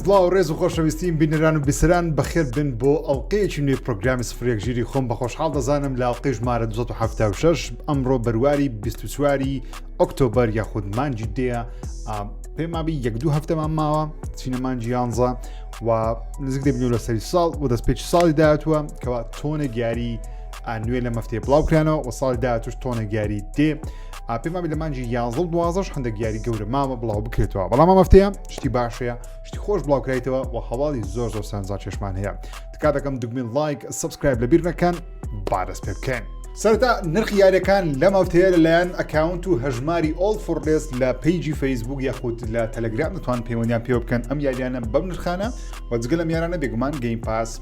سڵاو و ڕێز و خۆشەویستیم بینەران و بیسران بەخێر بن بۆ ئەڵلقەیەکی نوێی پرۆگرامی سفرێک ژیری خۆم بە خۆشحاڵ دەزانم لە ئەڵلقەی ژمارە 1970 ئەمڕۆ بەرواری 24واری ئۆکتۆبەر یاخود مانجی دەیە پێمابی یەک دوو هەفتەمان ماوە چینەمانجی یانزە و نزیک دەبنەوە لە سەری ساڵ و دەست پێچ ساڵی داهاتوە کەوا تۆنە گیاری نوێ لەم هەفتەیە بڵاو کرانەوە و ساڵی داهاتوش تۆنێک یاری دێ پێمان لە مانجی یانزڵ دوازەش هەندێک یاری گەورە مامە بڵاو بکرێتەوە بەڵام مەفتەیە شتی باشەیە شتی خۆش بڵاوکرایتەوە و هەواڵی زۆر زۆر سانزا چێشمان هەیە تکا دەکەم دگمین لایک سبسکرایب لە بیر نەکەن بارەس پێ بکەن. سەرتا نرخ یارەکان لەم هەفتەیە لەلایەن ئەکاونت و هەژماری ئۆڵ فڕێز لە پیجی فەیسبوک یاخود لە تەلەگرام دەتوان پەیوەندیان پێوە بکەن ئەم یاریانە بەم نرخانە وەجگە لە میارانە بێگومان گەیم پاس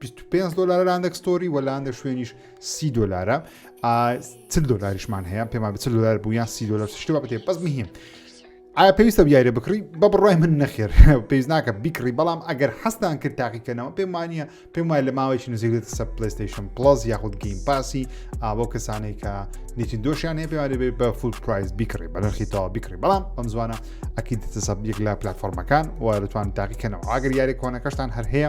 25 دلار لە هەندێک ستۆری وە لە هەندێک شوێنیش سی دلارە چ دلاریشمان هەیە پێمان بچ دلار بوو یان سی دلار شتێ بەێ بەس مهم ئایا پێویستە بیارە بکڕی بە بڕای من نەخێر پێویست ناکە بیکڕی بەڵام ئەگەر حەستان کرد تاقیکەنەوە پێمانە پێم وایە لە ماوەیەکی نزیکێت سە پلیستیشن پلس یاخود گەیم پاسی ئابۆ کەسانێک کە نیتی دۆشیان هەیە پێوانێت بێت بە فول پرایز بیکڕی بە نرخی تەوا بیکڕی بەڵام ئەم زوانە ئەکی دەسەبیەک لە پلتفۆرمەکان و دەتوان تاقیکەنەوە ئاگەر یاری کۆنەکەشتان هەر هەیە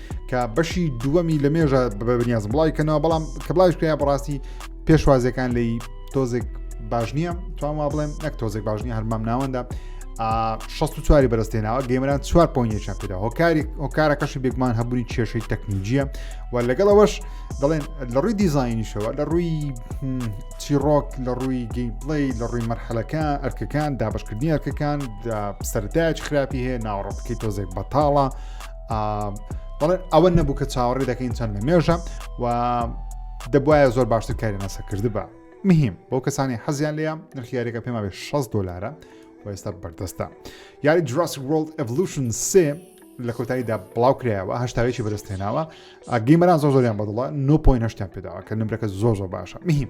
کە بەشی دووەمی لە مێژە بەبنیاز بڵای کەنەوە بەڵام کە بڵاوش کرا بەڕاستی پێشوازەکان لی تۆزێک باش نییە توان وا بڵێم نەک تۆزێک باش نیە هەرمام ناوەندا 16 بەرزتێناوە گەمەران چوار پۆینێکیان پێدا هۆکاری هۆکارەکەشی بێگومان هەبووی کێشەی تەکنیجیە و لەگەڵەوەش دەڵێن لە ڕووی دیزایینیشەوە لە ڕووی چیڕۆک لە ڕووی گەیمپڵی لە ڕووی مەرحەلەکان ئەرکەکان دابشکردنی ئەرکەکان سەردایج خراپی هەیە ناوەڕۆکەکەی تۆزێک بەتاڵە بەڵێ ئەوە نەبوو کە چاوەڕێ دەکەین چەند لە مێژە و دەبواە زۆر باشتر کاری ناسە کردبا مهم بۆ کەسانی حەزیان لێە نرخیارێکە پێما بێ 6 دلارە و ئێستا بەردەستە یاری جراس World Evolution سێ لە کۆتاییدا بڵاو کرایەوە هەشتاوێکی بەدەستێناوە گەیمەران زۆ زۆریان بەدڵە 9.8 پێداوە کە نمرەکە زۆ زۆ باشە مهم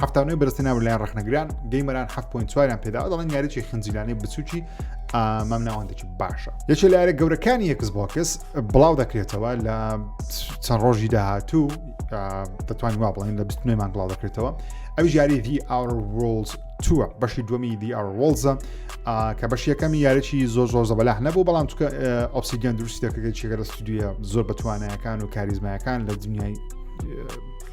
هەفتانەوەی بەرزترین ناو لەلایەن ڕخنەگران گەیمەران 7.4یان پێدا دەڵێن یاریی خنجیلانەی بچووکی ئامام ناوەندێکی باشە یەکێ لارە گەورەکانی یەکس بۆکس بڵاو دەکرێتەوە لە چەند ڕۆژی داهاتوو دەتوان وا بڵێن لە 29 مان بڵاو دەکرێتەوە ئەو یاری دی ئاور ڕۆڵز تووە بەشی دومی دی ئاور ڕۆڵزە کە بەش یەکەمی یارێکی زۆر زۆر زەبەلاح نەبوو بەڵام چکە ئۆپسیگەن دروستی دەکرێت چێگە لە ستودیە زۆر بەتوانایەکان و کاریزمایەکان لە دنیای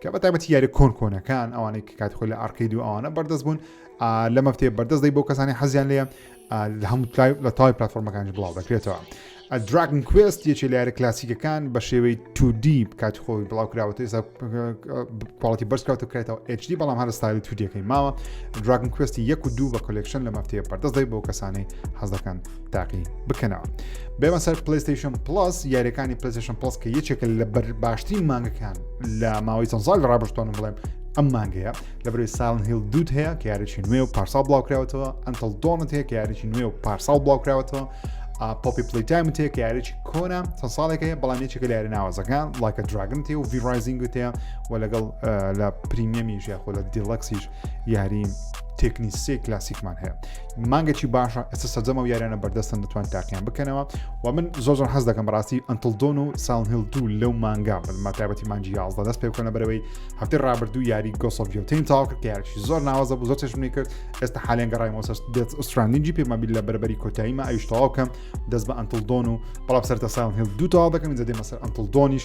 کە بە تایبەتی یاری کۆن کۆنەکان ئەوانەی کە کاتی خۆی لە ئارکەید و ئەوانە بەردەست بوون لە مەفتێ بەردەست دەی بۆ کەسانی حەزیان لێ لە هەموو لە تای پلتفۆرمەکانی بڵاو دەکرێتەوە دراگن کوست یەکی لە یارە کلاسیکەکان بە شێوەی 2D کاتی خۆی بڵاو کراوەتە ئێستا پاڵەتی بەرزکات و کرێتەوە HD بەڵام هەر ستایل تودیەکەی ماوە دراگن کوستی یەک و دوو بە کلکشن لە مەفتەیە پەردەست دەی بۆ کەسانی حەزەکان تاقی بکەنەوە بێمە سەر پلیستیشن پلس یاریەکانی پلیستیشن پلس کە یەکێکە لە بەر باشترین مانگەکان لە ماوەی چەند سال ڕابشتۆن بڵێم ئەم مانگەیە لە بەرەی ساڵن هیل دوود هەیە کە یاریی نوێ و پارساڵ بڵاوکراوەتەوە ئەنتل دۆنت هەیە کە یاریی نوێ و پارساڵ بڵاوکراوەتەوە پۆپی پلیتایم تێ کە یاریی کۆنا چەند ساڵێکە بەڵام یەکێکە لە یاری ناوازەکان لایکە دراگن تێ و ڤیڕایزینگ تێ و لەگەڵ لە پریمیەمیش یاخۆ لە دیڵەکسیش یاری تێکنی سێ کلاسیکمان هەیە مانگێکی باشە ئێستا سەرجەمە و یاریانە بەردەستن دەتوان تاقییان بکەنەوە و من زۆر زۆر حەز دەکەم بەڕاستی ئەنتلدۆن و ساونهل دوو لەو مانگا بنما تایبەتی مانجی یازدە دەست پێ بکەنە بەرەوەی هەفتەی ڕابردوو یاری گۆسۆڤیۆتین تاو کرد یاریی زۆر ناوازە بوو زۆر چێشمنی کرد ئێستا حالێن گەڕای مۆسەس دێت ئوسترانینجی پێمەبیل لە بەربەری کۆتاییمە ئەویش تەواو کەم دەست بە ئەنتلدۆن و بەڵام سەرتە ساونهل دوو تاوا دەکەم جدێ مەسەر ئەنتلدۆنیش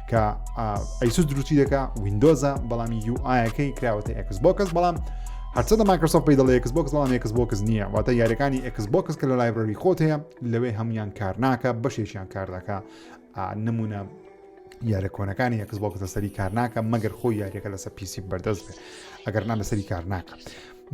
کە ئەیسوس دروستی دەکە وینندۆزە بەڵام یو ئاەکەی کراوەتە ئەکس بۆکەس بەڵام هەرچەندە ماکرسۆف پێی دەڵێ ئەکس بۆکس بەڵام ئەکس بۆکس نییە واتە یاریەکانی ئەکس بۆکس کە لە لایبرری خۆت هەیە لەوێ هەمویان کار ناکە بەشێکیان کار دەکە نمونە یارە کۆنەکانی یەکس بۆ کەسە سەری کار ناکە مەگەر خۆی یاریەکە لەسە پیسی بەردەست بێت ئەگەر نان لەسەری کار ناکە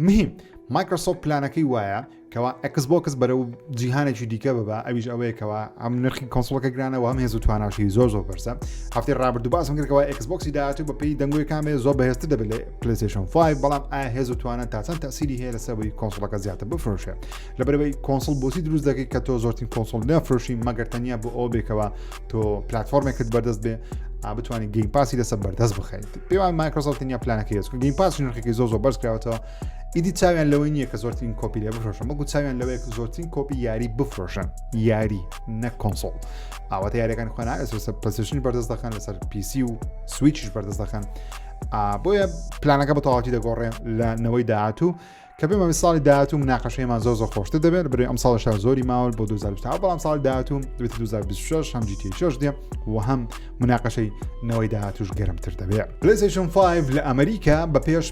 مهم مایکرۆسۆف پلانەکەی وایە کەوا ئەکس بۆکس بەرەو جیهانێکی دیکە ببە ئەویش ئەوەیە کەوا ئەم نرخی کۆنسڵەکە گرانەوە هەم هێز و تواناشی زۆر زۆر بەرزە هەفتی ڕابرد و باسم کردەوە ئەکسبکسی داهاتوو بە پێی دەنگۆی کامێ زۆر بەهێزتر دەبێت پلیسشن 5 بەڵام ئایا هێز و توانە تا چەند تاسیری هەیە لەسەوەی کۆنسڵەکە زیاتر بفرۆشێ لەبەرەوەی کۆنسڵ بۆسی دروست دەکەی کە تۆ زۆرترین کۆنسڵ نەفرۆشی مەگەر تەنیا بۆ ئەو بێکەوە تۆ پلتفۆرمێکت بەردەست بێ بتوانانی گەیم پاسی لەسەر بەردەست بخەیت پێوان مایکرۆسۆفت تنیا پلانەکە هێزکە گەیم پاس نرخێکی زۆ زۆ بەرزکراوەتەوە ئیدی چاویان لەوەی نییە کە زۆرترین کۆپی لێ بفرۆشن بەڵکو چاویان لەوەیە کە زۆرترین کۆپی یاری بفرۆشن یاری نە کۆنسۆڵ ئاواتە یاریەکان خۆنا ئەسۆسە پسشنی بەردەست دەخەن لەسەر پیسی و سویچش بەردەست دەخەن بۆیە پلانەکە بە تەواتی دەگۆڕێ لە نەوەی داهاتوو کە بێمە ساڵی داهاتوو مناقەشەیەمان زۆر زۆر خۆشتە دەبێت بری ئەم ساڵ شار زۆری ماول بۆ 2020 بەڵام ساڵ داهاتوو 2026 هەم جیتیشش دێ و هەم مناقەشەی نەوەی داهاتوش گەرمتر دەبێت پلیسشن 5 لە ئەمریکا بە پێش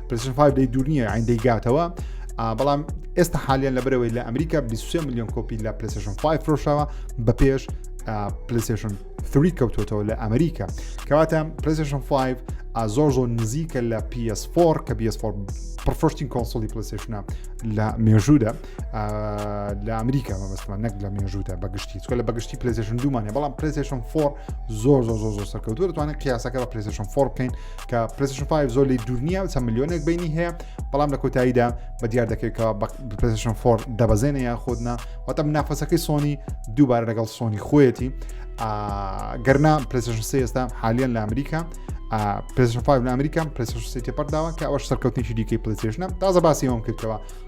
پلیشن فای دەی دوور نییە ئەین دەیگاتەوە بەڵام ئێستا حالیان لە برەوەی لە ئەمریکا 23 میلیۆن کۆپی لە پلیسشن 5 فرۆشەوە بە پێش پلیسشن 3 کەوتۆتەوە لە ئەمریکا کەواتە پلیسشن 5 زۆر زۆر نزیکە لە PS4 کە PS4 پرفشتین کۆنسۆلی پلیسشنە لە مێژوودا لە ئەمریکا مەبستمان نەک لە مێژوودا بەگشتی چکە لە بەگشتی پلیسشن دومانە بەڵام پلیسشن 4 زۆر زۆر زۆر زۆر سەرکەوتو دەتوانێت قیاسەکە بە پلیسشن 4 بکەین کە پرسشن 5 زۆر لی دوور نییە چەند میلیۆنێک بینی هەیە بەڵام لە کۆتاییدا بە دیار دەکرێتەوە پرسشن فۆر دەبەزێنە یا خۆدنا واتە نافەسەکەی سۆنی دووبارە لەگەڵ سۆنی خۆیەتی گەرنا پرسشن سێ ئێستا حالیان لە ئەمریکا پرسشن 5 لە ئەمریکا پرسشن سێ تێپەرداوە کە ئەوش سەرکەوتنیشی دیکەی پلیسشنە تازە باسی ئەوم کردەوە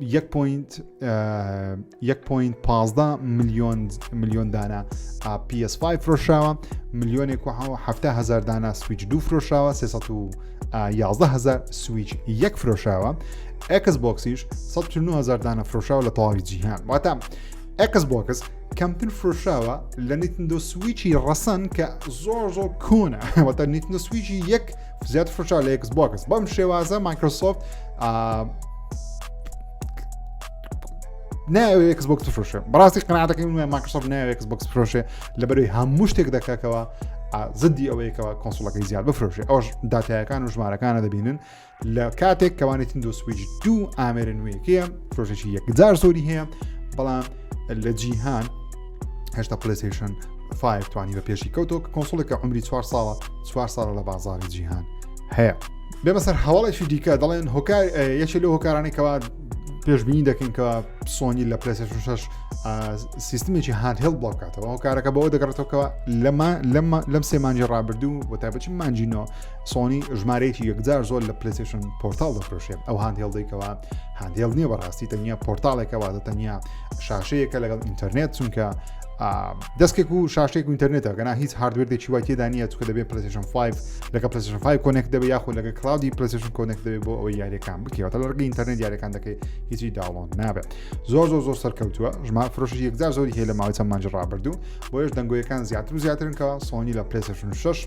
یەک پوینت یەک پوینت پازدە ملیۆن ملیۆن دانە PS5 فرۆشراوە ملیۆنێک و هەفتا هزار دانە سویچ دوو فرۆشراوە 311 هزار سویچ یەک فرۆشراوە ئەکس بۆکسیش 1970 دانە فرۆشراوە لە تەواوی جیهان واتە ئەکس بۆکس کەمتر فرۆشراوە لە نیتندۆ سویچی ڕەسەن کە زۆر زۆر کۆنە واتە نیتندۆ سویچی یەک زیاتر فشار لە ئێکس بۆکس بەم شێوازە مایکرۆسۆفت ناوێ ئێکس بۆکس فرۆشێ بەڕاستی قناتەکەی من مایکرۆسۆفت ناوێ ئێکس بۆکس فرۆشێ لە بەروی هەموو شتێک دەکەکەوە زدی ئەوەیەکەوە کۆنسڵەکەی زیاد بفرۆشێ ئەوش داتایەکان و ژمارەکانە دەبینن لە کاتێک کەوانێتین دو سویچ دوو ئامێرە نوێیەکەیە فرۆشێکی یەکجار زۆری هەیە بەڵام لە جیهان هشتا پلیسیشن فایف توانی بە پێشی کەوتۆ کە کۆنسڵێکە عمری چوار ساڵە چوار ساڵە لە بازاری جیهان هەیە بێ بەسەر هەواڵێکی دیکە دەڵێن هۆکار یەکێ لە هۆکارانی کەوا پێشبینی دەکەین کەەوە سۆنی لە پلسیشن شش سیستمێکی هاندهێڵ بڵاوکاتەوە هۆکارەکە بەوە دەگەڕێتەوەکەەوە لەمە لەم سێمانجی ڕابردوو بۆ تایبەتی مانجینەوە سۆنی ژمارەیەکی یەکجار زۆر لە پلەسشن پۆرتال دەفرۆشێت ئەو هاندهێڵدەی کەوا هاندێڵ نییە بەڕاستی تەنیا پۆرتالێکە واتە تەنیا شاشەیەکە لەگەڵ ئینتەرنێت چونکە دەستێک و شاشێک و ئینتەرنێتە گەنا هیچ هاردوێردێکی وای تێدانە چکە دەبێت پلسشن 5 لەگە پلسشن 5 کۆنێک دەبێت یاخۆ لەگە کلاودی پلسشن کۆنێک دەبێت بۆ ئەوەی یاریەکان بکەوە لە ڕگە ئینتەرنێت یاریەکان دەکەی هیچی داڵۆن نابێت زۆر زۆر زۆر سەرکەوتووە ژما فرۆشی یەکجار زۆری هەیە لە ماوەی چەند مانج ڕابردوو بۆیش دەنگۆیەکان زیاتر و زیاترن کە سۆنی لە پلسشن 6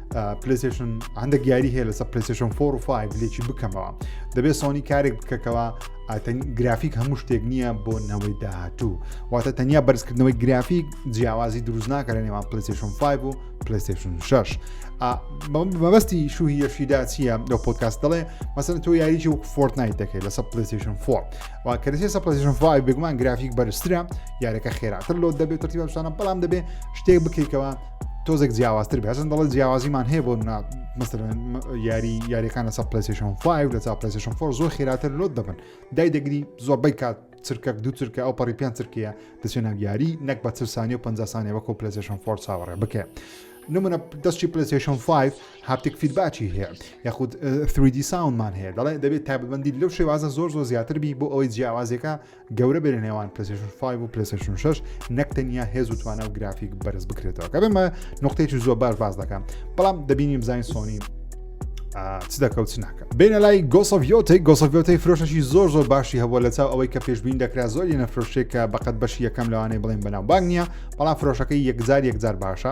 پلیسشن هەندێک یاری هەیە لەسە پلیسشن فۆر و فایب لێکی بکەمەوە دەبێت سۆنی کارێک بکەکەوە گرافیک هەموو شتێک نییە بۆ نەوەی داهاتوو واتە تەنیا بەرزکردنەوەی گرافیک جیاوازی دروست ناکە لە نێوان پلیسشن 5 و پلیسشن 6 مەبەستی شوهی یەشیدا چییە لەو پۆتکاست دەڵێ مەسن تۆ یاریی وەک فۆرت نایت دەکەیت لەسە پلیسشن 4 وا کەسی سە پلیسشن 5 بێگومان گرافیک بەرزترە یارەکە خێراتر لۆ دەبێت ترتیبشانە بەڵام دەبێت شتێک بکەیتەوە تۆزێک جیاوازتر بەزن دەڵێت جیاوازیمان هەیە بۆ نا مەسەرەن یاری یاریەکان لەسە پلسیشن 5 لە چا پلسیشن فۆر زۆر خێراتر لۆت دەبن دای دەگری زۆربەی کات چرکە دو چرکە ئەو پەڕی پێیان چرکەیە دەچێنە یاری نەک بە چ سانانی و 50 سانێ وەکو پلسیشن فۆر چاوەڕێ بکە. نمونە دەستی پلسیشن 5 هاپتێک فیدباچی هەیە یاخود 3D ساونمان هەیە دەڵێ دەبێت تاببندی لەو شێوازە زۆر زۆر زیاتر بی بۆ ئەوەی جیاوازەکە گەورە بێ لە نێوان پلسشن 5 و پلسشن 6 نەک تەنیا هێز و توانا و گرافیک بەرز بکرێتەوە کە بێمە نقطەیەکی زۆر باش باز دەکەم بەڵام دەبینی بزانین سۆنی چ دەکەوت چ ناکە بینە لای گۆسەڤۆتی گۆسەڤۆتی فرۆشەشی زۆر زۆر باشی هەبووە لە چاو ئەوەی کە پێشبین دەکرا زۆر لە فرۆشێکە بەقەت بەشی یەکەم لەوانەیە بڵێن بەناو باگ نییە بەڵام فرۆشەکەی یەکجار یەکجار باشە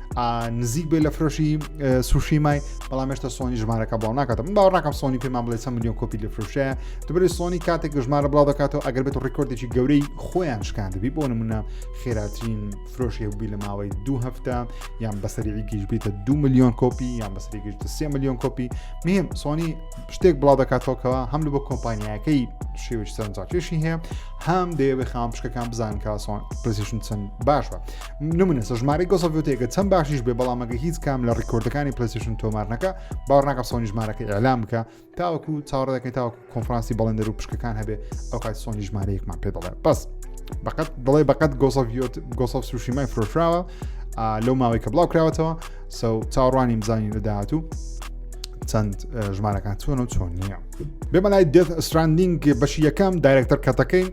نزیک بێ لە فرۆشی سوشی مای بەڵام هێشتا سۆنی ژمارەکە بڵاو ناکاتم من باوەڕناکەم سۆنی پێمان بڵێ چەند میلیۆن کۆپی لە فرۆشەیە دەبێت سۆنی کاتێک ژمارە بڵاو دەکاتەوە ئەگەر بێت ڕیکۆردێکی گەورەی خۆیان شکان دەبی بۆ نمونە خێراترین فرۆشی هەبووی لە ماوەی دو هەفتە یان بەسەری گیش بیتە دو میلیۆن کۆپی یان بەسەری گشت سێ میلیۆن کۆپی مهم سۆنی شتێک بڵاو دەکاتەوەکەەوە هەم لە بۆ کۆمپانیایەکەی شێوش سەرنجاکێشی هەیە هەم دەیەوێ خام پشکەکان بزانکە سۆن پرسیشن چەند باشە نمونە سە ژمارەی گۆسەڤوتێکە چەند باشیش بێ بەڵام ئەگە هیچ کام لە ڕیکۆردەکانی پلسیشن تۆمارنەکە باوەڕناکە سۆنی ژمارەکە ئەلام بکە تاوەکو چاوەڕە دەکەین تاوەکو کۆنفرانسی بەڵێندەر و پشکەکان هەبێ ئەو کات سۆنی ژمارەیەکمان پێ دەڵێ بەس بەقەت دڵێ بەقەت گۆسەڤیۆت گۆسەف سوشیمای فرۆشراوە لەو ماوەی کە بڵاو کراوەتەوە سە چاڕوانی بزانین لە داهاتوو چەند ژمارەکان چۆن و چۆن نییە بێمە لای دێت ئەستراندینگ بەشی یەکەم دایرەکتەر کەتەکەی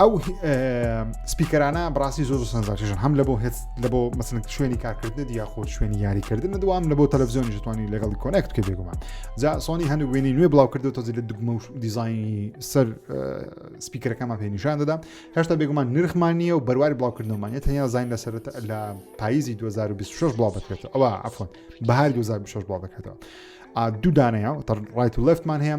ئەو سپیکەرانە بڕاستی زۆر سنجاکیژن هەم لە بۆ هێت لە بۆ مەسن شوێنی کارکردن یا خۆ شوێنی یاریکردن دوام لە بۆ تەلەڤزیۆنی جوانی لەگەڵ کۆنکت کە بێگومان جا سۆنی هەنوو وێنی نوێ بڵاو کردو تۆزی لە دگمە و دیزایانی سەر سپیکەرەکەمان پێ نیشان دەدا هێشتا بێگومان نرخمان نییە و بەرواری بڵاوکردنەوەمانە تەنیا زین لە سەرەت لە پاییزی 2026 بڵاو دەکرێتەوە ئەوە ئەفۆن بەهار 2026 بڵاو دەکرێتەوە دوو دانەیە ڕایت و لەفتمان هەیە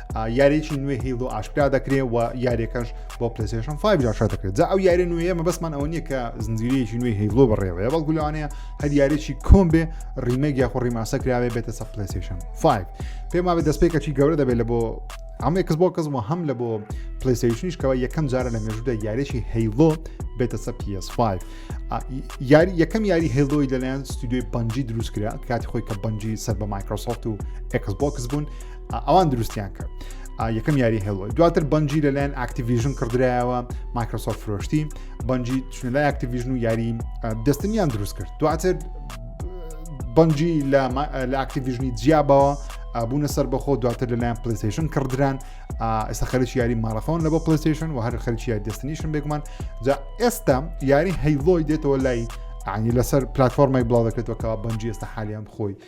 یاریی نوێ هیلۆ ئاشکرا دەکرێت و یاریەکەش بۆ پلسێشن 5 جاشا دەکرێت جا ئەو یاری نوێە مەبەستمان ئەوە نییە کە زنجیرەیەکی نوێ هیلۆ بەڕێوەیە بەڵکو لەوانەیە هەر یاریی کۆم بێ ڕیمەک یاخۆ ڕیماسە کراوێ بێتە سە پلسێشن 5 پێما بێت دەستپێکەکی گەورە دەبێت لە بۆ ئەمێکس بۆ کەس وە هەم لە بۆ پلیسیشنیشکەوە یەکەم جارە لە مێژودا یاریی هەیلۆ بێتە سە PS5 یاری یەکەم یاری هێلۆی لەلایەن ستودیوی بەنجی دروستکرا کاتی خۆی کە بەنجی سەر بە مایکرۆسۆفت و ئەکس بۆکس بوون ئەوان دروستیان کرد یەکەم یاری هێڵۆی دواتر بەنجی لەلایەن ئاکتیڤژن کڕدرایەوە مایکرۆسۆف فرۆشتی بەنجی چونە لای ئاکتیڤژن و یاری دەستنیان دروست کرد دواتر بەنجی لە ئاکتیڤژنی جیابەوە بوونە سەر بەخۆ دواتر لەلایەن پلیستیشن کڕدران ئێستا خەرکی یاری ماڵەخۆن لە بۆ پلیستیشن و هەر خەرکی یاری دەستنیشن بێگومان جا ئێستا یاری هەیلۆی دێتەوە لای عنی لەسەر پلتفۆرمای بڵاو دەکرێتەوە کە بەنجی ئێستا حالیان خۆی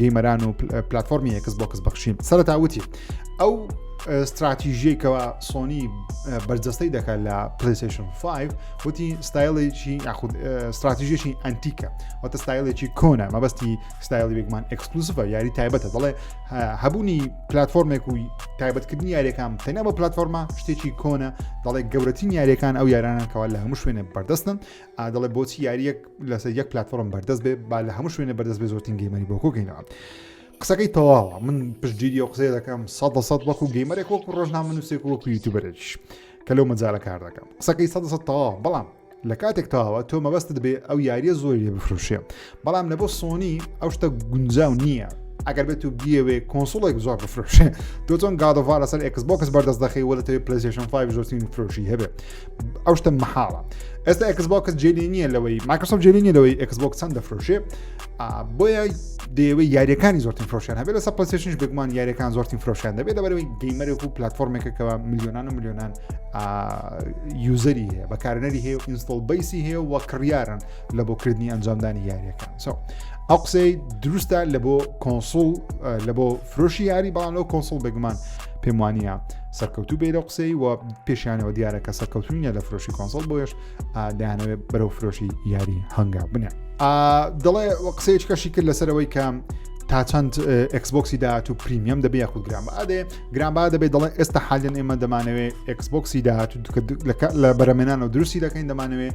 گەیمەران و پلتفۆرمی ئەکس بۆکس بەخشیم سەرتا وتی ئەو استراتیژیەکەەوە سۆنی بەرجەستەی دەکات لە پلیسیشن 5 وتی ستایلێکی یاخود استراتیژیشی ئەنتیکە وتە ستایلێکی کۆنە مەبەستی ستایلی بێگمان ئەکسکلوسفە یاری تایبەتە دەڵێ هەبوونی پلتفۆرمێک و تایبەتکردنی یاریەکان تەنە بە پلتفۆرمە شتێکی کۆنە دەڵێ گەورەترین یاریەکان ئەو یارانەکەەوە لە هەموو شوێنێ بەردەستن ئا دەڵێ بۆچی یاریەک لەسەر یەک پلتفۆرم بەردەست بێ با لە هەموو شوێنە بەردەست بێ زۆرترین گەیمەری بۆ کۆگەینەوە قسەکەی تەواوە من پشتگیری و قسەی دەکەم سە سەد وەکو گەیمەرێک وەکو ڕۆژنا من نووسێک وەکو یوتوبەرێکیش کە لەو مەجارە کار دەکەم قسەکەی سە سە تەواوە بەڵام لە کاتێک تەواوە تۆ مەبەستت بێ ئەو یاریە زۆری لێ بفروشێ بەڵام لە بۆ سۆنی ئەو شتە گونجاو نییە ئەگەر بێت و بیەوێ کۆنسڵێک زۆر بفرۆشێ تۆ چۆن گادۆڤار لەسەر ئەکس بۆکس بەردەست دەخی وە لەتەوێت پلسیشن 5 زۆرترین فرۆشی هەبێت ئەو شتە محاڵە ئێستا ئەکس بۆکس جێلی نییە لەوەی ماکرسۆف جێلی نیە لەوەی ئەکس بۆک چەند دەفرۆشێ بۆیە دەیەوەی یاریەکانی زۆرترین فرۆشیان هەبێت لەسەر پلسیشنش بگومان یاریەکان زۆرترین فرۆشیان دەبێت لەبەرەوەی گەیمەرێک و پلتفۆرمێکەکەەوە میلیۆنان و میلیۆنان یوزەری هەیە بەکارنەری هەیە و ئینستۆڵ بیسی هەیە و کڕیارن لە بۆ کردنی ئەنجامدانی یاریەکە سو ئەو قسەی دروستە لە بۆ کۆنسول لە بۆ فرۆشی یاری بەڵام لەو کۆنسول بەگومان پێم وانە سەرکەوتو بێ لە قسەی و پێشیانەوە دیارە کە سەرکەوتونیە لە فرۆشی کۆنسۆل بۆش دایانەوێت بەرەو فرۆشی یاری هەنگا بنێ دەڵێ قسەیەک کەشی کرد لەسەرەوەی کە تا چەند ئەکسبۆکسی داات و پریمیەم دەبێ یاخود گرام ئادێ گرانبا دەبێت دەڵێ ئێستا حالیان ئێمە دەمانەوێت ئەکسبۆکسی داات و لە بەرەمێنان و دروستی دەکەین دەمانەوێت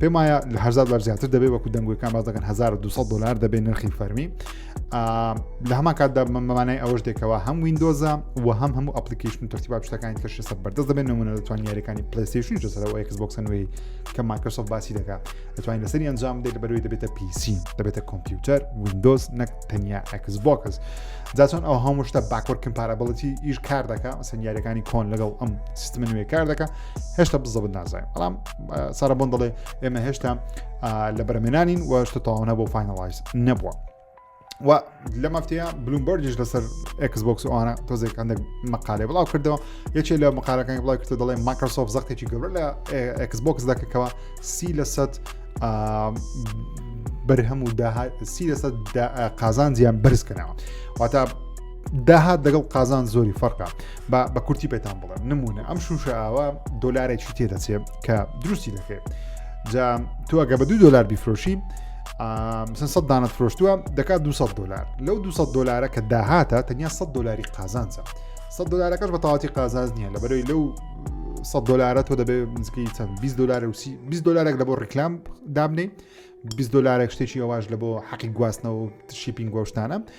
پێم وایە لە هزار دلار زیاتر دەبێت وەکو دەنگوەکان باز دەکەن 1200 دلار دەبێت نرخی فەرمی لە هەمان کاتدا مەمانای ئەوەش دێکەوە هەم وینندۆزە و هەم هەموو ئەپلیکیشن و تەرتیبا شتەکان کە شێسە بەردەست دەبێت نمونە دەتوان یاریەکانی پلیسیشن جسەرەوە ئەکس بۆکسنەوەی کە ماکەسۆف باسی دەکات دەتوانین لەسەر ئەنجام دێت بەروی دەبێتە پیسی دەبێتە کۆمپیوتەر وینندۆز نەک تەنیا ئەکس بۆکس جاچۆن ئەو هەموو شتە باکۆر کمپارابڵەتی ئیش کار دەکە مەسەن یاریەکانی کۆن لەگەڵ ئەم سیستمە نوێ کار دەکە هێشتا بزەبت نازای بەڵام سارە بۆن دەڵێ ئێمە هێشتا لە بەرمێنانین و شتە تاوانە بۆ فینەڵایز نەبووە و لە مافتەیە بلومبەرجش لەسەر ئەکسبکس ئەوانە تۆزێک هەندێک مقالێ بڵاو کردەوە یەکێ لە مقالەکانی بڵاو کردە دەڵێ ماکرسۆف زەختێکی گەورە لە ئەکسبکس دەکەکەەوە سی لە سەد بەرهەم و سی لەسەد قازانجیان بەرزکەنەوە واتە داهات دەگەڵ قازان زۆری فەرقا بە بە کورتی پێتان بڵێم نمونە ئەم شوشە ئاوا دۆلارێکی تێ دەچێت کە دروستی دەکرێت جا تو ئەگە بە دو دلار بیفرۆشی سە دانت فرۆشتووە دەکات 200 دلار لەو 200 دلارە کە داهاتە تەنیا 100 دلاری قازانجە 100 دلارەکەش بە تاواتی قازانز نییە لە بەرەوەی لەو 100 دلارە تۆ دەبێت نزیکەی چەند 20 دلار و 20 دلارێک لە بۆ ڕیکلام دابنەی 20 دلارێک شتێکی ئەواش لە بۆ حەقی گواستنەوە شیپینگ گۆشتانە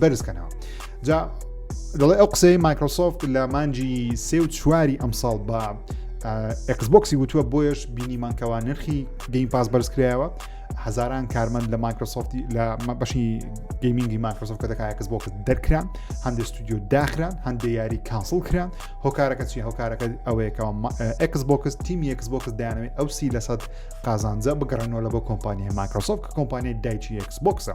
بەرزکەنەوە جا دەڵێ ئەو قسەی مایکرۆسۆفت لە مانجی سێ و چواری ئەمساڵ بە ئەکسبکسی وتووە بۆیش بینیمانکەوە نرخی گەیم پاس بەرزکرایەوە هزاران کارمەند لە مایکرۆسۆفتی لە بەشی گەیمینگی مایکرۆسۆف کە دەکایە کەس بۆکە دەرکران هەندێک ستودیو داخران هەندێ یاری کانسڵ کران هۆکارەکە چی هۆکارەکە ئەوەیەکەوە ئەکس بۆکس تیمی یەکس بۆکس دایانەوەی ئەو سی لەسەد قازانجە بگەڕێنەوە لە بۆ کۆمپانیای مایکرۆسۆف کە کۆمپانیای دایکی یەکس بۆکسە.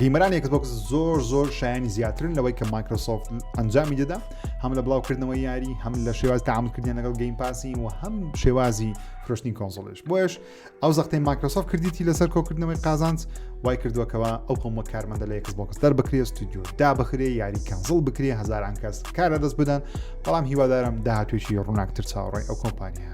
گەیمەرانی ئەکسبۆکس زۆر زۆر شایانی زیاترن لەوەی کە مایکرۆسۆفت ئەنجامی دەدا هەم لە بڵاوکردنەوەی یاری هەم لە شێواز تامکردیان لەگەڵ گەیم پاسی و هەم شێوازی فرۆشتنی کۆنسۆلش بۆش ئەو زەختەی مایکرۆسۆفت کردیتی لەسەر کۆکردنەوەی قازانج وای کردووەکەەوە ئەو قوم وە کارمەندە لە ئەکسبۆکس دەر بکرێ ستودیو دا بخرێ یاری کەنزڵ بکرێ هزاران کەس کارە دەست بدەن بەڵام هیوادارم داهاتوێکی ڕووناکتر چاوەڕێ ئەو کۆمپانیا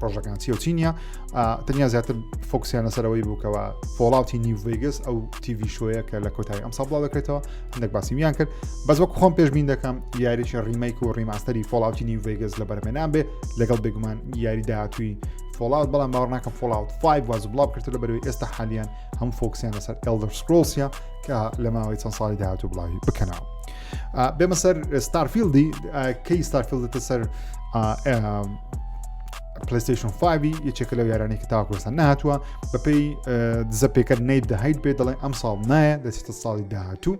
پرۆژەکان چی و چی نییە تەنیا زیاتر فۆکسیان لەسەرەوەی بووکەوە فۆڵاوتی نیڤگەس ئەو تیوی شوەیە کە لە کۆتایی ئەم ساڵ بڵاو دەکرێتەوە هەندێک باسیویان کرد بەس وەک خۆم پێشبین دەکەم یاریی ڕیمەیک و ڕیماستەری فۆڵاوتی نیڤگەس لە بەرمێنان بێ لەگەڵ بێگومان یاری داهاتوی فۆڵاوت بەڵام باوە ناکەم فۆڵاوت 5 واز بڵاو کرد لە بەروی ئێستا حالیان هەم فۆکسیان لەسەر ئەلدەر سکرۆسیا کە لە ماوەی چەند ساڵی داهاتوو بڵاوی بکەنەوە. بێمە سەر ستارفیلدی کەی ستارفیلدتە سەر پلیستشن 5 یەکێکە لەو یارانی کە تاکۆستا نهاتووە بەپی دزە پێکەر نیت دەهیت بێ دەڵێن ئەم ساڵ نایە دەچێتە ساڵی داهاتوو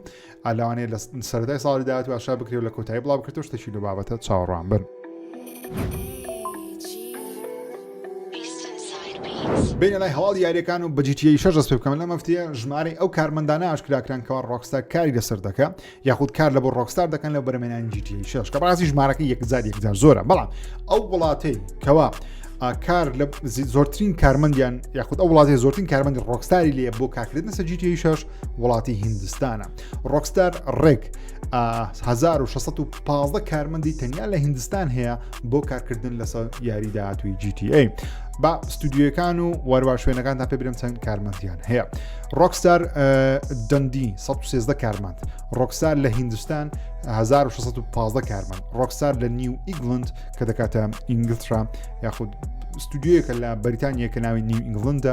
ئالاوانەیە لە سەردای ساڵی داهاتوو ئاشا بکرێت لە کۆتایی بڵاو بکرێت شتێکی لە بابەتە چاوەڕوان بن. بینە لای هەواڵ یاریەکان و بەجیتیی شەش دەست پێ بکەم لە مەفتیە ژمارەی ئەو کارمەندانە ئاشکراکران کەوا ڕۆکستا کاری لەسەر دەکە یاخود کار لە بۆ ڕۆکستار دەکەن لە بەرمێنانی جیتی شش کە ڕاستی ژمارەکە یەکزار یەکزار زۆرە بەڵام ئەو وڵاتەی کەوا کار لە زۆرترین کارمەندیان یاخود ئەو وڵاتی زۆرترین کارمەندی ڕۆکستاری لێ بۆ کاکردن سەجیتی شش وڵاتی هندستانە ڕۆکستار ڕێک 1615 کارمەندی تەنیا لە هندستان هەیە بۆ کارکردن لەسەر یاری داهاتوی GTA با ستودیوەکان و واروا شوێنەکان تا پێ برم چەند کارمەندیان هەیە ڕۆکستار دەندی 16 کارمەند ڕۆکسار لە هندستان 1615 کارمەند ڕۆکسار لە نیو ئیگلند کە دەکاتە ئینگلترا یاخود ستودیوەکە لە بەریتانیە کە ناوی نیو ئینگلندە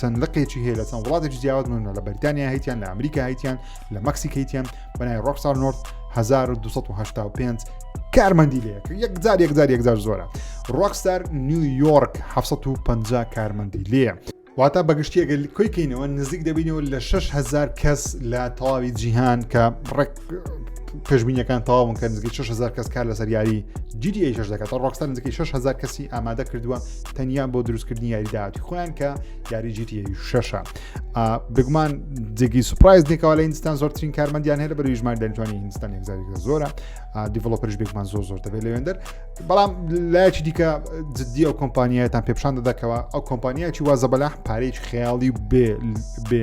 چەند لقێکی هەیە لە چەند وڵاتێکی جیاواز من لە بەریتانیا هیتیان لە ئەمریکا هیتیان لە مەکسیک هیتیان بەنای ڕۆکسار نۆرد 1995 کارمەندی لێ یەک جار یەک جار یەکجار زۆرە ڕۆکسار نیویۆرک 1950 کارمەندی لێە واتە بەگشتیەگە کۆی کەینەوە نزیک دەبینەوە لە 6هزار کەس لە تەواوی جیهان کە ڕێک پێشبینیەکان تەواون کە نزیکەی 6هزار کەس کار لەسەر یاری جیدی ئەیش دەکات ڕۆکستا نزیکەی 6هزار کەسی ئامادە کردووە تەنیا بۆ دروستکردنی یاری داهاتی خۆیان کە یاری جیتی شەشە بگومان جێگی سوپایز دێکەوە لە هندستان زۆرترین کارمەندیان هەیە بەری ژمان دەنجوانی هندستان هزاری زۆرە دیڤڵۆپەرش بێکمان زۆر زۆر دەبێت لەوێندەر بەڵام لایەکی دیکە جددی ئەو کۆمپانیایەتان پێپشان دەدەکەوە ئەو کۆمپانیایکی وازە بەلاح پارێکی خەیاڵی بێ بێ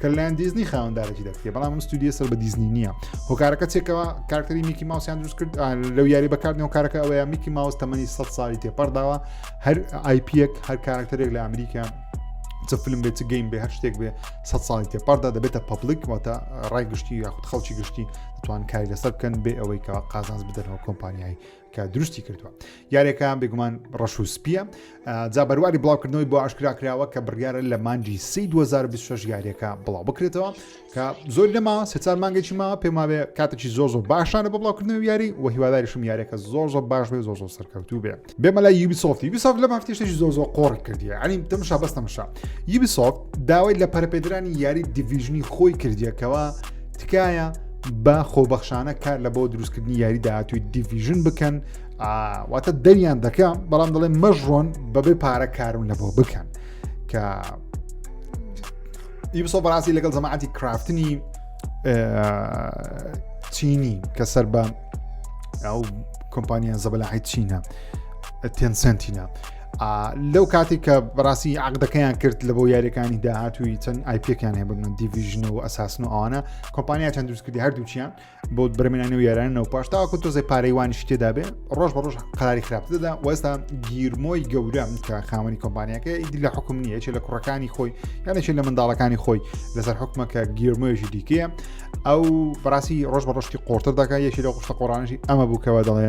کە لەلایەن دیزنی خاوەندارێکی دەکرێت بەڵام ستودیە سەر بە دیزنی نییە هۆکارەکە چێکەوە کارکتەری میکی ماوسیان دروست کرد لەو یاری بەکاردنەوە کارەکە ئەوەیە میکی ماوس تەمەنی 100 ساڵی تێپەرداوە هەر آیپیەک هەر کارکتەرێک لە ئەمریکا چ فلم بێت چ گەیم بێ هەر شتێک بێ سە ساڵی تێپاردا دەبێتە پبلیک واتە ڕای گشتی یاخود خەڵکی گشتی دەتوان کاری لەسەر بکەن بێ ئەوەی کە قازانز بدەنەوە کۆمپانیایی کە دروستی کردووە یارێکە بێگومان ڕەش و سپیە جا بەرواری بڵاوکردنەوەی بۆ ئاشکرا کراوە کە بڕیاە لە مانجی سی 2026 یاریەکە بڵاو بکرێتەوە کە زۆر لەما سێچار مانگێکی ماوە پێماوێ کاتێکی زۆر زۆر باشانە بە بڵاوکردنەوە یاری و هیواداریشم یارێکە زۆر زۆر باش بێ زۆر زۆر سەرکەوتوو بێ بێمە لە یوبی سۆفتی بیسۆف لە مافتیشتێکی زۆر زۆر قۆڕ کردیە ئەنی تەمشا بەستەمشا یوبی سۆفت داوای لە پەرپێدرانی یاری دیڤژنی خۆی کردیەکەوە تکایە بە خۆبەخشانە کار لە بۆ دروستکردنی یاری داهاتوی دیڤژن بکەن واتە دەریان دەکە بەڵام دەڵێن مەژڕۆن بەبێ پارە کارون لە بۆ بکەن کە یبسۆ بەڕاستی لەگەڵ زەماعاتی کرافتنی چینی کە سەر بە ئەو کۆمپانیان زەبەلاحی چینە تێنسنتینە لەو کاتی کە بەڕاستی عقدەکەیان کرد لە بۆ یاریەکانی داهاتوی چەند ئایپەکان هەیە بگرن دیڤژن و ئەساسن و ئەوانە کۆمپانیا چەند دروستکردی هەردووچیان بۆ برمێنانی و یارانە و پاش تاکو تۆزێ پارەیوانیش تێدا بێ ڕۆژ بە ڕۆژ قەراری خراپ دەدا وەستا گیرمۆی گەورەم کە خاوەنی کۆمپانیەکە ئیدی لە حکوم نیە چێ لە کوڕەکانی خۆی یانێکی لە منداڵەکانی خۆی لەسەر حکومەکە گیرمۆیشی دیکەیە ئەو بەڕاستی ڕۆژ بە ڕۆشتی قۆرتر دەکە یەکی لە قشتە قۆڕانشی ئەمە بووکەوە دەڵێ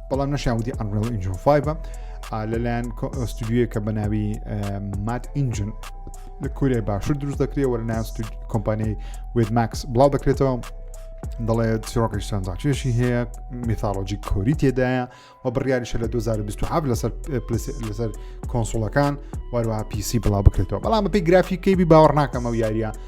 بەڵام نەشیان وتی ئەنڕێڵ ئینجن 5 لەلایەن ئۆستودیوە کە بە ناوی مات ئینجن لە کورێ باشتر دروست دەکرێت وەرە ناس کۆمپانیای وێدماکس بڵاو دەکرێتەوە دەڵێت چیڕۆکی سانزاچێشی هەیە میثالۆجی کۆری تێدایە و بڕیاریشە لە 2020 لەسەر لەسەر کۆنسوڵەکان وەروە پیسی بڵاو بکرێتەوە بەڵام بەپی گرافیکەی بی باوەڕ ناکەمە و یاریە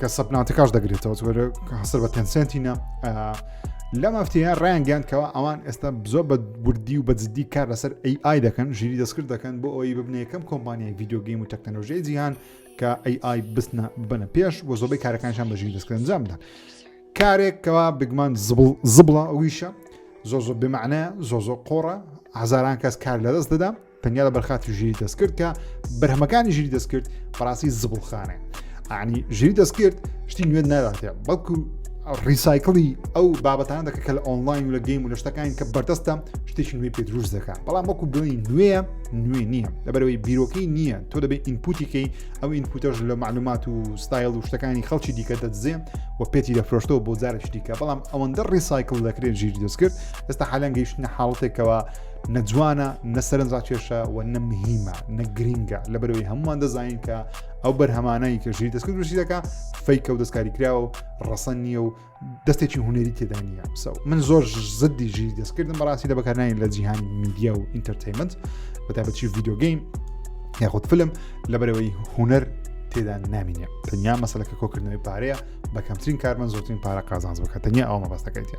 کە سەپناتەکەش دەگرێتەوە هەسەر بە تەنسنتینە لە مافتیە ڕیان گەاندکەوە ئەوان ئێستا بزۆ بە بردی و بە جددی کار لەسەر ئەی ئای دەکەن ژیری دەستکرد دەکەن بۆ ئەوی ببنە یەکەم کۆمپانیای یددیوگەیم و تەکنەلۆژیای جیهان کە ئەی ئای بستنە بنە پێش بۆ زۆبەی کارەکانشان بە ژیری دەستکرد جامدا کارێک کەوا بگمان زبڵ زبڵە ئەویشە زۆ زۆ بمانە زۆ زۆ قۆڕە هزاران کەس کار لەدەست دەدەم تەنیا لە بەرخاتی ژیری دەستکرد کە بەرهەمەکانی ژیری دەستکرد بەڕاستی زبڵخانێ ئانی ژیری دەستکرد شتی نوێن ناداتێ بەڵکو ڕیسایکڵی ئەو بابەتان دەکە کە لە ئۆنلاین و لە گەیم و لە شتەکانی کە بەردەستە شتێکی نوێ پێ دروست دەکات بەڵام وەکو بڵێی نوێە نوێ نییە لەبەرەوەی بیرۆکەی نییە تۆ دەبێت ئینپوتیکەی ئەو ئینپوتەش لە معلومات و ستایل و شتەکانی خەڵکی دیکە دەدزێ و پێتی دەفرۆشتەوە بۆ جارێکی دیکە بەڵام ئەوەندە ڕیسایکل دەکرێت ژیر دەست کرد ئێستا حالان گەیشتە حاڵەتێکەوە نە جوانە نە سەرنجڕاکێشە و نە مهمە نە گرینگە لە بەرەوەی هەمووان دەزانین کە ئەو بەرهەمانایی کە ژیر دەستکرد بژی دەکە فیکە و دەستکاری کراوە و ڕەسەن نییە و دەستێکی هوەری تێدا نییە سەو من زۆر زدی ژیر دەستکردم بەڕاستی لە بەکارنین لە جیهان میدیا و ئینتەرتەیمنت بەتابەتی ڤیددیوگەیم یاخود فلم لە بەرەوەی هوەر تێدا نامینە تەنیا مەسلەکە کۆکردنەوەی پارەیە بە کەمترین کارمە زۆرترین پارە قازانز بکە تەنیا ئەو مەبەستەکەیتە.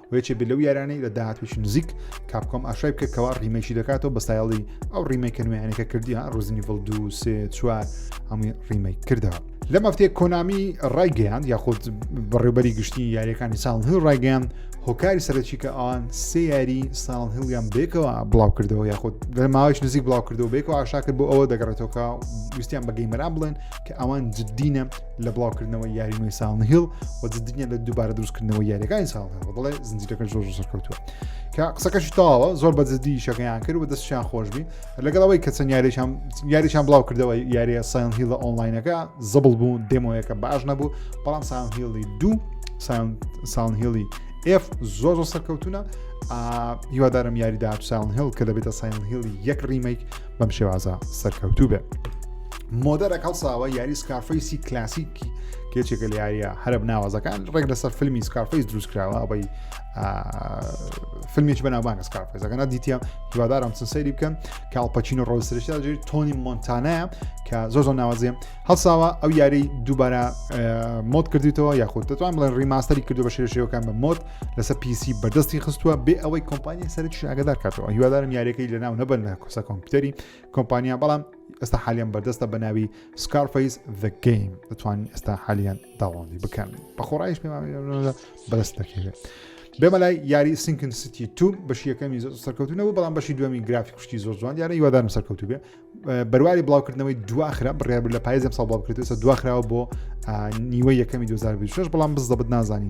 و یەکێ بێت لەو یارانەی لە داهاتویش نزیک کاپکۆم ئاشای بکە کەوا ڕیمەکی دەکاتەوە بە سایڵی ئەو ڕیمەکە نوێیانەکە کردی ڕزنی ڤڵ دو سێ چوار هەمووی ڕیمەی کردەوە لە مەفتێ کۆنامی ڕایگەیان یاخود بەڕێوبەری گشتی یاریەکانی ساڵ هەو ڕایگەیان هۆکاری سەرەکی کە ئەوان سێ یاری ساڵ هەڵیان بێکەوە بڵاو کردەوە یاخود لە ماوەش نزیک بڵاو کردەوە بێکەوە ئاشاکرد بۆ ئەوە دەگەڕێتەوە ویستیان بە گەیمەران بڵێن کە ئەوان جددینە لە بڵاوکردنەوەی یاری نوێی ساڵن هیل و جددیە لە دووبارە دروستکردنەوەی یاریەکانی ساڵن هێڵ بڵێ زنجیرەکە زۆر زۆر سەرکەوتووە کە قسەکەشی تاوە زۆر بە جددی شەکەیان کرد و دەستیان خۆشببی لەگەڵەوەی کە چەند یاریشان یاریشان بڵاو کردەوە یاریە سایان هیلە ئۆنلاینەکە زبڵ بوو دێمۆیەکە باش نەبوو بەڵام سان هیڵی دوو ساون هیڵی ئف زۆر زۆر سەرکەوتونە هیوادارم یاری داات ساون هێڵ کە دەبێتە ساین هیڵی یەک ڕیمەیک بەم شێوازە سەرکەوتوو بێت. مۆدەرەک هەڵساوە یاری سکارفەیسی کلاسیکی کێچێکە لە یاریە هەرب ناوازەکان ڕێک لەسەر فیلمی سکارفەیس دروستکراوە ئەوەی فیلمێکی بەناوبانگە سکارفەیزەکەنا دیتە هیوادارم چن سەیری بکەن کاڵپەچین و ڕۆسرشتا جێ تۆنی مۆنتانەیە کە زۆر زۆر ناوازێ هەڵساوە ئەو یاری دووبارە مۆد کردیتەوە یاخود دەتوان بڵێن ڕیماستەری کردو بە شێشەکان بە مۆد لەسەر پیسی بەدەستی خستووە بێ ئەوەی کۆمپانیای سەرچ ئاگدار کاتەوە هیوادارم یاریەکەی لەناو نەبەر لە کۆسە کۆمپیوتەری کۆمپانیا بەڵام ئێستا حالیان بەردەستە بە ناوی سکارفیس the game دەتوانین ئێستا حالیان داوەڵی بکەن بە خۆڕایش پێ بەدەست دەکەوێت بێمە لای یاری سینکن سیتی تو بەشی یەکەمی زۆر سەرکەوتنەوە بەڵام بەشی دومی گرافی کوشتی زۆر جوان یارە یوادارم سەرکەوتو بێ بەرواری بڵاوکردنەوەی دواخرا بڕیار لە پایزم ساڵ بڵاوکردێتە دواخراوە بۆ نیوە یەکەمی 2026 بەڵام بزدەبت نازانی